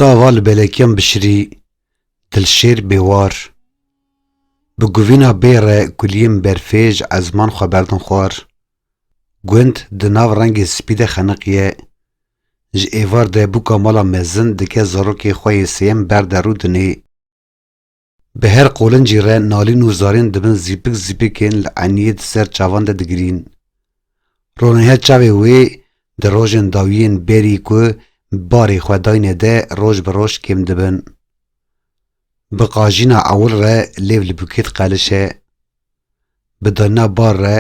Tava li belekiyan bişirî Dilşêr Bêwar Bi guvîna bê re kuliyên berfê ji ezman xwe berdin xwar. Gund di nav rengê spî de xeniqiye. Ji êvar de bûka mala mezin dike zarokê xwe yê sêyem berde rû dinê. Bi her qolincî re nalîn û zarên di bin zîpik zîpikên li eniyê di ser çavan de digirîn. Ronihe çavê wê di rojên dawiyên bêrî ku barê xwe dayne de roj bi roj kêm dibin. Bi qajîna ewil re lêv li bûkêt qelişe. Bi danina bar re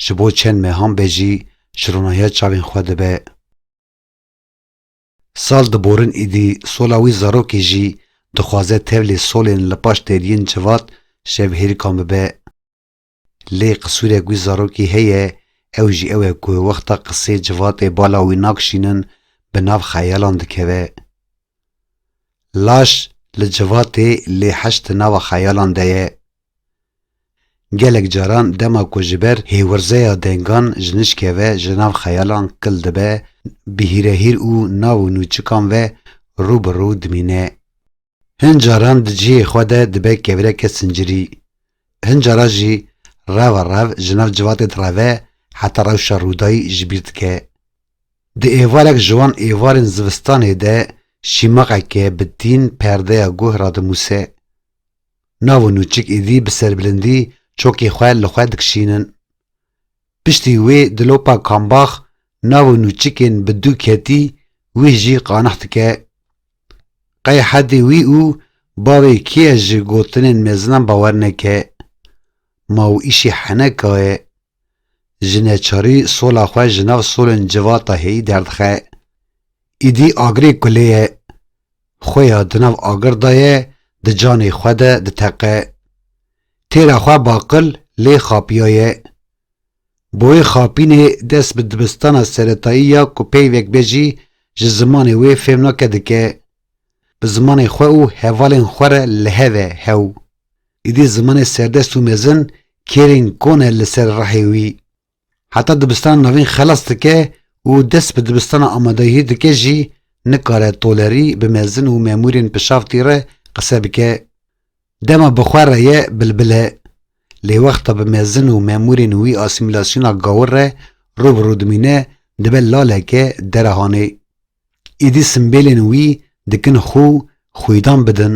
ji bo çend mehan be jî ji ronihe çavên xwe dibe. Sal diborin êdî sola wî zarokê jî dixwaze tevlê solên li paş têdiyên civat şevhêrikan bibe. Lê qisûrek wî zarokê heye ew jî ew e ku wexta qisê civatê bala wî nakşînin bi nav xeyalan dikeve. Laş li civatê lê heş di nava xeyalan de ye. Gelek caran dema ku ji ber hêwirzeya dengan ji nişkê ve ji nav xeyalan kil dibe, bi hîrehîr û nav û nûçikan ve rû bi rû dimîne. Hin caran di cihê xwe de dibe kevireke sincirî. Hin cara jî reva rev ji nav civatê direve heta rewşa rûdayî ji bîr dike. Di êvarek ji wan êvarên zivistanê de şîmaqeke bi tîn perdeya guh radimûse. Nav û nûçik êdî bi serbilindî çokê xwe li xwe dikişînin. Piştî wê dilopa kambax nav û nûçikên bi dû ketî wîh jî qanix dike. Qey hedê wî û bavê kî ye ji gotinên mezinan bawer neke. Ma û îşî heneka ye. Ji neçarî sola xwe ji nav solên civata hêyî derdixe. Îdî agirê ku lê ye, xwe ya di nav agir de ye di canê xwe de diteqe. Têra xwe baqil lê xapiyaye. Bi wê xapînê dest bi dibistana seretayî ya ku peyvek be jî ji zimanê wê fêm nake dike. Bi zimanê xwe û hevalên xwe re li hev e hew. Îdî zimanê serdest û mezin kêrên kon e li ser rehê wî. Heta dibistana navîn xelas dike û dest bi dibistana amadeyihî dike jî nikare tolerî bi mezin û memûrên pişavtî re qise bike. Dema bi xwe re ye bilbil e. Lê wexta bi mezin û memûrên wî asîmîlasyona gawir re rû bi rû dimîne dibe laleke derehanê. Îdî simbêlên wî dikin xû xwîdan bidin.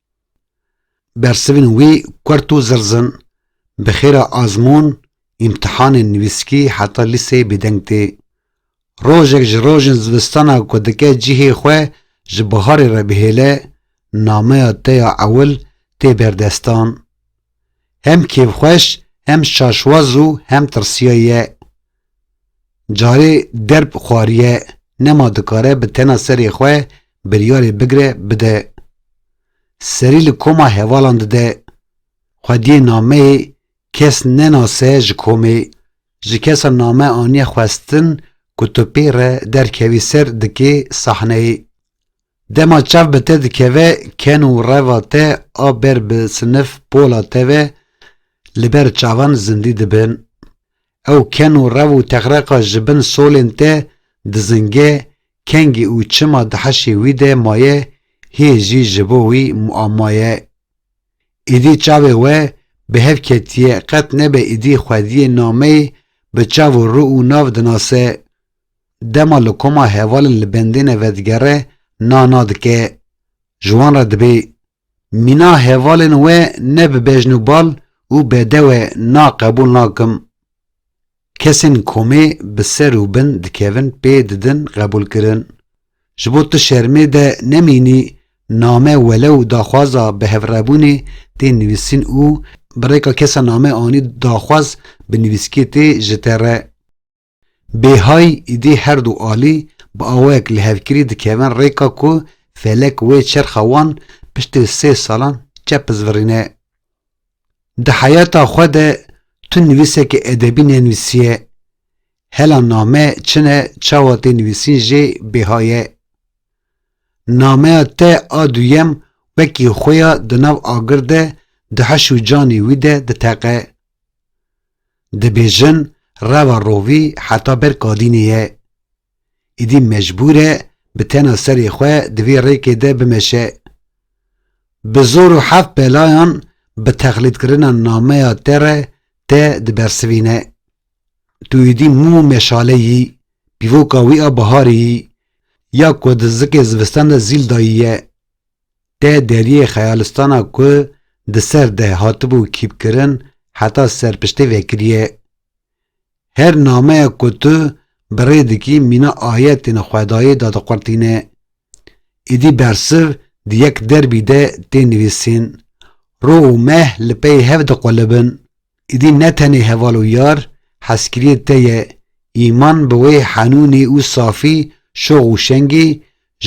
Bersivên wî kurt û zirz in. Bi xêra azmûn, îmtihanên nivîskî heta lîseyê bêdeng tê. Rojek ji rojên zivistana ku dike cihê xwe ji biharê re bihêle, nameya te ya ewil tê berdestan. Hem kêfxweş, hem şaşwaz û hem tirsiyayî ye. Carê derb xwariye nema dikare bi tena serê xwe biryarê bigre bide. Serî li koma hevalan dide. Xwediyê nameyê kes nenase ji komê. Ji kesa name aniye xwestin ku tu pê re derkevî ser dikê sahneyê. Dema çav bi te dikeve ken û reva te a ber bi sinif pola te ve li ber çavan zindî dibin. Ew ken û rev û texreqa ji bin solên te dizinge, kengî û çima di heşê wî de maye hê jî ji bo wî muamma ye. Îdî çavê we bi hev ketiye qet nebe îdî xwediyê nameyê bi çav û rû û nav dinase. Dema li koma hevalên li bendêne vedigere na na dike. Ji wan re dibê. Mîna hevalên we ne bi bejn û bal û bedewe na qebûl nakim. Kesên komê bi ser û bin dikevin pê didin qebûlkirin. Ji bo tu şermê de nemînî name welew daxwaza bihevrebûnê tê nivîsîn û bi rêka kesa name anî daxwaz bi nivîskê tê ji te re. Bêhay îdî her du alî bi awayek li hevkirî dikevin rêka ku felek wê çerxa wan piştî sê salan çepizvirîne. Di heyata xwe de tu nivîsekî edebî nenivîsiye. Hela name çi ne çawa tê nivîsîn jê bêha ye. Nameya te a duyem wekî xwe ya di nav agir de di heş û canê wî de diteqe. Dibêjin reva rovî heta ber kadînê ye. Îdî mecbûr e bi tena serê xwe di vê rêkê de bimeşe. Bi zor û heft belayan bi texlîdkirina nameya te re te dibersivîne. Tu îdî mû û meşale yî, pîvoka wî a biharê yî, ya ku di zikê zivistan de zîl dayî ye. Dê deriyê xeyalistana ku di ser dê hatibû kîpkirin heta serpiştê vekiriye. Her nameyek ku tu bi rê dikî mîna ayetên Xwedayê de diqurtîne. Êdî bersiv di yek derbî de tê nivîsîn. Rû û meh li pey hev diqulibin. Êdî ne tenê heval û yar hezkiriyê te ye, îman bi wê henûnî û safî şox û şengî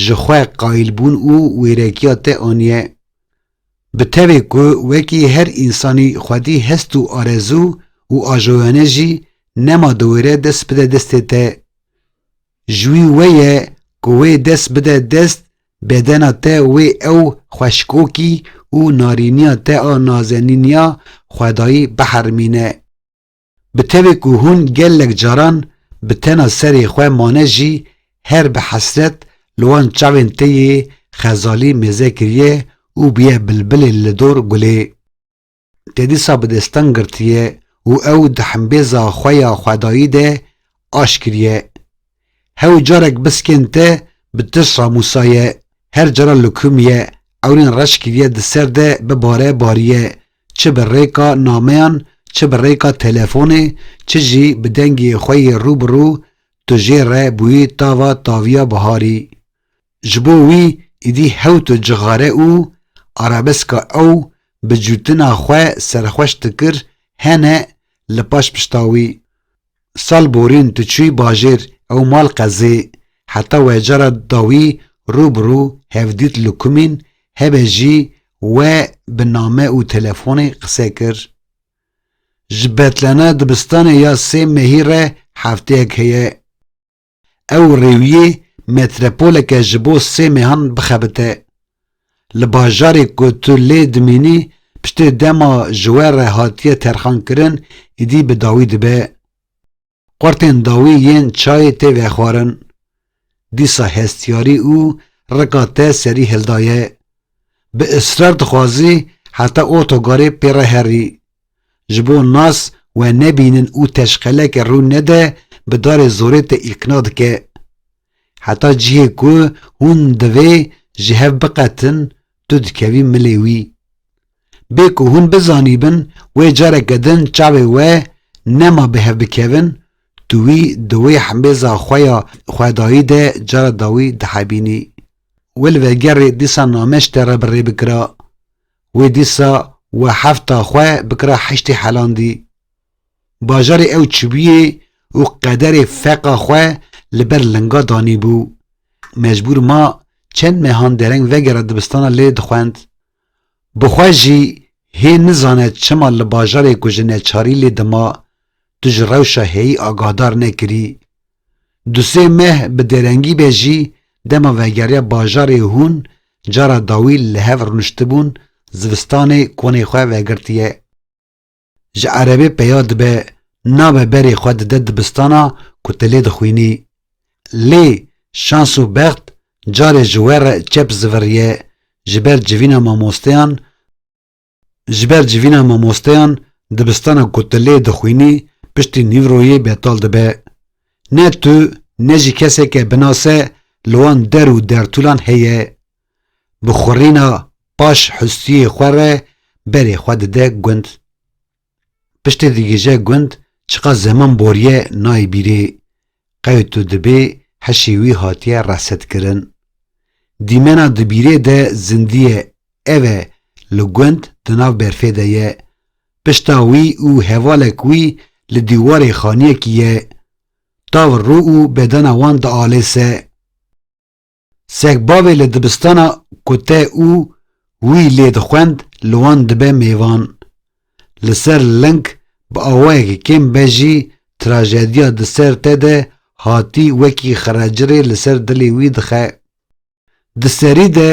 ji xwe qayîlbûn û wêrekiya te aniye. Bi tevê ku wekî her însanî xwedî hest û arezû û ajoyane jî nema diwêre dest bide destê te. Ji wî we ye ku wê dest bide dest bedena te wê ew xweşikokî û narîniya te a nazenîniya xwedayî bihermîne. Bi tevê ku hûn gelek caran bi tena serê xwe mane jî her bi hesret li wan çavên te yê xezalî mêze kiriye û bûye bilbilê li dor gulê. Te dîsa bi destan girtiye û ew di himbêza xwe ya xwedayî de aşkiriye. Hew carek biskên te bi tir şamusa ye, her cara lukum ye, ewrên reş kiriye di ser de bi bare bariye, çi bi rêka nameyan, çi bi rêka telefonê, çi jî bi dengê xwe yê rû bi rû, tu jê re bûyî tava taviya biharî. Ji bo wî êdî hewto cixare û arabeska ew bi cûtina xwe serxweş dikir hene li paş pişta wî. Sal borîn tu çûyî bajêr ew mal qezê, heta we cara dawî rû bi rû hevdît li kumîn hebe jî we bi name û telefonê qise kir. Ji betlana dibistanê ya sê mehî re hefteyek heye. Ew rêwiyê metrepoleke ji bo sê mêhan bixebite. Li bajarê ku tu lê dimînî piştê dema ji we re hatiye terxankirin îdî bi dawî dibe. Qortên dawî yên çayê tê vexwarin. Dîsa hestiyarî û rika te serî hildaye. Bi israr dixwazî heta otogarê pê re herî. Ji bo nas we nebînin û teşqeleke rû nede bi darê zorê te îlkna dike. Heta cihê ku hûn divê ji hev biqetin tu dikevî milê wî. Bê ku hûn bizanîbin wê careke din çavê we nema bi hev bikevin tu wî di wê hembêza xwe ya xwedayî de cara dawî dihebînî. We li vegerê dîsa nameşte re bi rê bikira. Wê dîsa we hefta xwe bikira heştê helandî. Bajarê ew çibûyê û qederê feqa xwe li ber linga danîbû. Mecbûr ma çend mehan dereng vegera dibistana lê dixwend. Bi xwe jî hê nizane çima li bajarê ku ji neçarî lê dima, tu ji rewşa heyî agahdar nekirî, Du sê meh bi dêrengî be jî dema vegeriya bajarê hûn cara dawî li hev rûniştibûn zivistanê konê xwe vegirtiye. Ji erebê peya dibe nabe berê xwe dide dibistana ku tu lê dixwînî. Lê şans û bext carê ji we re çep ziviriye ji ber civîna mamosteyan, Ji ber civîna mamosteyan dibistana ku tu lê dixwînî piştî nîvroyê betal dibe. Ne tu ne jî keseke binase li wan der û dertûlan heye. Bi xurîna paş hustiyê xwe re berê xwe dide gund. Piştê digije gund çiqas zeman boriye nayê bîrê. Qewt û dibê hişê wî hatiye resetkirin. Dîmena di bîrê de zindiye ev e li gund di nav berfê de ye. Pişta wî û hevalek wî li dîwarê xaniyekî ye. Tavr rû û bedena wan dialêse. Segbavê li dibistana ku te û wî lê dixwend li wan dibe mêvan. Li ser ling bi awayekî kêm be jî trajediya di ser te de hatî wekî xiracirê li ser dilê wî dixe. Di serî de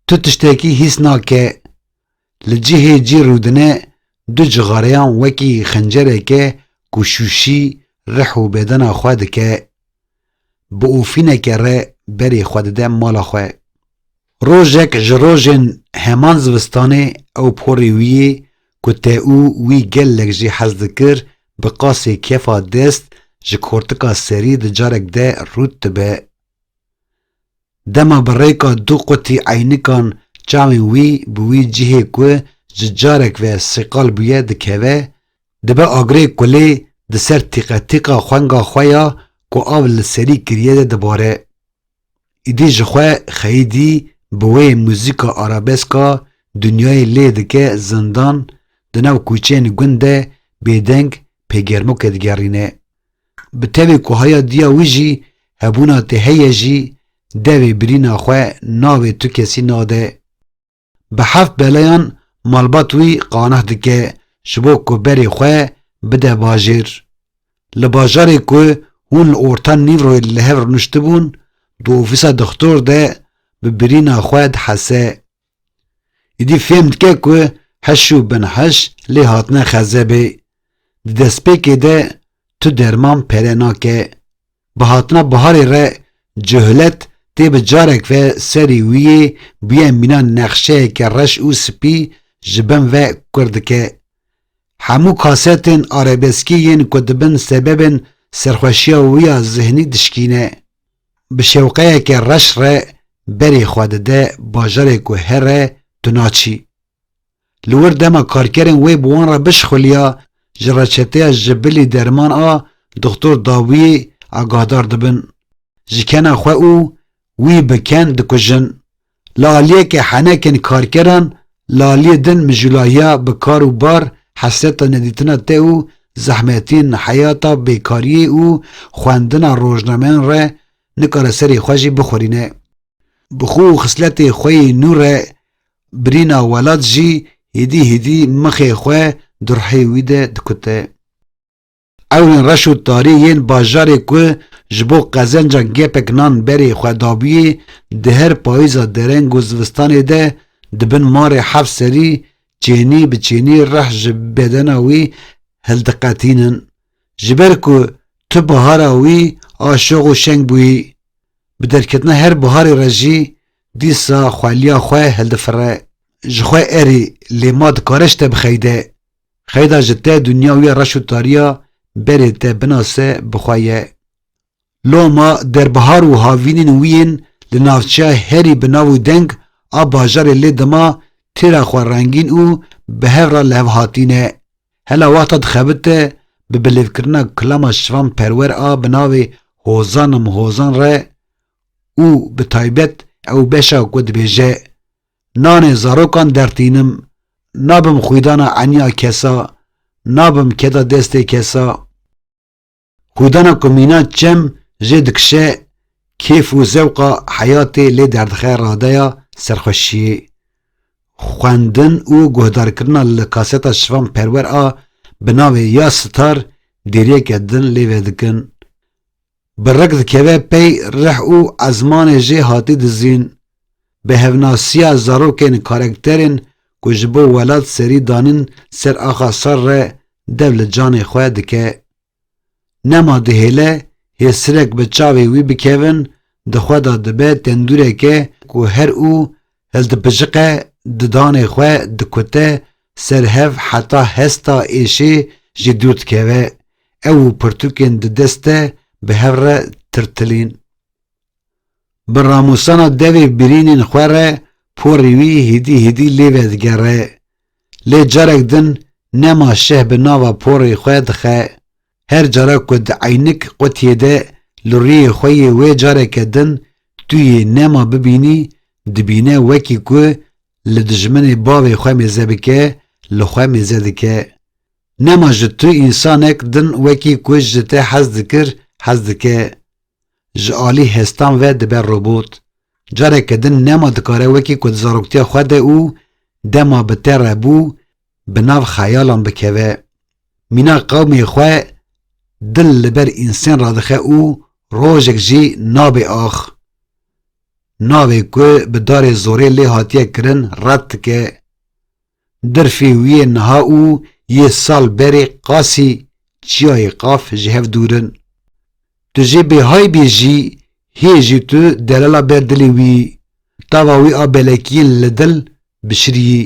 tu tiştekî hîs nake. Li cihê cî rûdine du cixareyan wekî xencereke ku şûşî rih û bedena xwe dike, bi ofîneke re berê xwe dide mala xwe. Rojek ji rojên heman zivistanê ew porê wî yê ku te û wî gelek jî hez dikir bi qasê kefa dest ji kortika serî di carek de rûd dibe. Dema bi rêka du qutî eynikan çavên wî bi wî cihê ku ji carek ve sîqal bûye dikeve, dibe agirê kulê di ser tîqetîqa xwenga xwe ya ku av li serî kiriye de dibare. Îdî ji xwe xeyîdî bi wê muzîka arabeska dinyayê lê dike zindan, di nav kûçeyên gund de bêdeng pê germoke digerîne. Bi tevê ku haya diya wî jî hebûna te heye jî devê birîna xwe navê tu kesî nade. Bi heft belayan malbat wî qaneh dike ji bo ku berê xwe bide bajêr. Li bajarê ku hûn li orta nîvroyê li hev rûniştibûn di ofîsa dixtor de bi birîna xwe dihese. Îdî fêm dike ku heş û bin heş lê hatine xezebê. Di destpêkê de tu derman pere nake. Bi hatina biharê re cohlet tê bi carek ve serî wî yê bûye mîna nexşeyeke reş û spî ji bin ve kur dike. Hemû kasetên arabeskî yên ku dibin sebebên serxweşiya wî ya zihnî dişkîne. Bi şewqeyeke reş re berê xwe dide bajarê ku here tu naçî. Li wir dema karkerên wê bi wan re bişixuliya ji reçeteya ji bilî derman a Dixtor Dawiyê agahdar dibin, ji kena xwe û wî bi ken dikujin, Li aliyekê henekên karkeran li aliyê din mijulahiya bi kar û bar, hesreta nedîtina te û zehmetên heyata bêkariyê û xwendina rojnameyan re nikare serê xwe jî bixurîne. Bi xwe û xisletê xwe yê nû re birîna welat jî hîdî hîdî mixê xwe di ruhê wî de dikute. Ew ên reş û tarî yên bajarê ku ji bo qezencan gepek nan berê xwe dabûyê di her payîza dereng û zivistanê de di bin marê heft serî çênî bi çênî rih ji bedena wî hildiqetînin. Ji ber ku tu bihara wî a şox û şeng bûyî, bi derketina her biharê re jî dîsa xweliya xwe hildifire. Ji xwe erî lê ma dikare ji te bixeyde. Xeyda ji te dinya wî reş û tariya berê te binase bi xwe ye. Loma derbihar û havînên wî yên li navçeya herî bi nav û deng a bajarê lê dima têra xwe rengîn û bi hev re li hev hatîne. Hela wexta dixebite bi bilêvkirina kilama şivan perwer a bi navê Hozan im hozan re û bi taybet ew beşa ku dibêje, Nanê zarokan dertînim, nabim xwîdana eniya kesa, nabim keda destê kesa. Xwîdana ku mîna çem jê dikişe, kêf û zewqa heyatê lê derdixe radeya serxweşiyê. Xwendin û guhdarkirina li kaseta Şivan Perwer a bi navê Ya Sitar dêriyeke din lê vedikin. Bi rek dikeve pey rih û ezmanê jê hatî dizîn, bi hevnasiya zarokên karekterên ku ji bo welat serî danin ser axa sar re dev li canê xwe dike. Nema dihêle hêsirek bi çavê wî bikevin di xwe de dibe tendûreke ku her û Hildibijiqe di danê xwe dikute ser hev heta hesta êşê jî dûr dikeve. Ew û pirtûkên di dest de bi hev re tirtilîn. Bi ramûsana devê birînên xwe re porê wî hîdî hîdî lê vedigere. Lê carek din nema şeh bi nava porê xwe dixe. Her cara ku di eynik qutiyê de li rûyê xwe yê wê careke din tu yê nema bibînî, dibîne wekî ku li dijminê bavê xwe mêze bike, li xwe mêze dike. Nema ji tu însanek din wekî ku ji te hez dikir, hez dike. Ji alî hestan ve dibe robot. Careke din nema dikare wekî ku di zaroktiya xwe de û dema bi te re bû, bi nav xeyalan bikeve. Mîna qewmê xwe dil li ber însen radixe û rojek jî nabê ax. Navê ku bi darê zorê lê hatiye kirin red dike. Dirfê wî yê niha û yê sal berê qasî çiyayê qaf ji hev dûr in. Tu jê bêhay bî jî hê jî tu delala ber dilê wî, tava wî a belekiyên li dil bişirî.